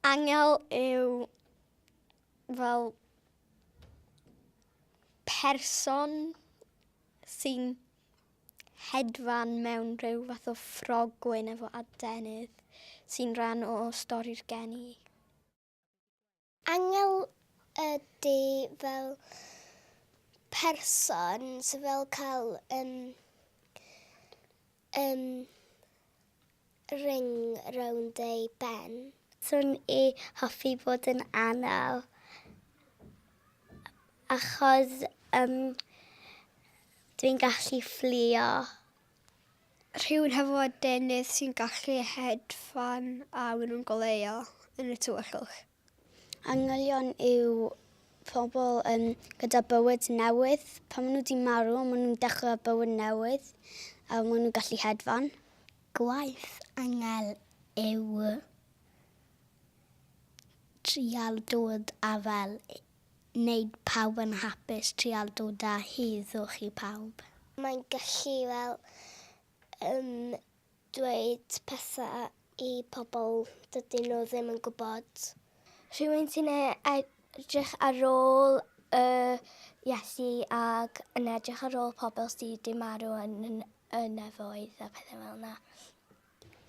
Angel yw fel person sy'n hedfan mewn rhyw fath o ffrogwyn efo adenydd sy'n rhan o stori'r geni. Angel ydy fel person sy'n fel cael um, um, ring rownd ei ben. Swn i hoffi bod yn anel achos um, dwi'n gallu fflio. Rhywun hefo adenydd sy'n gallu hedfan a maen nhw'n goleuo yn y tywyllwch. Angylion yw pobl um, gyda bywyd newydd. Pan maen nhw wedi marw, maen nhw'n dechrau bywyd newydd a maen nhw'n gallu hedfan. Gwaith angel yw trial dod â fel wneud pawb yn hapus, trial dod â heddwch i pawb. Mae'n gallu fel yym dweud pethau i pobl dydyn nhw ddim yn gwybod. Rhywun sy'n e- edrych ar ôl y Iesu ac yn edrych ar ôl pobl sy' 'di marw yn y nefoedd a pethau fel 'na.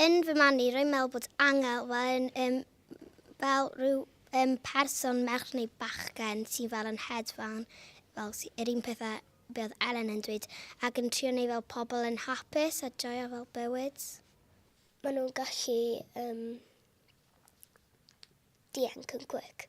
Yn fy marn i, rwy'n meddwl bod angel fel yn, um, fel rhyw um, person merch neu bachgen sy'n fel yn hedfan, fel yr un pethau be oedd Ellen yn dweud, ac yn trio neu fel pobl yn hapus a joio fel bywyd. Maen nhw'n gallu um, dianc yn cwic.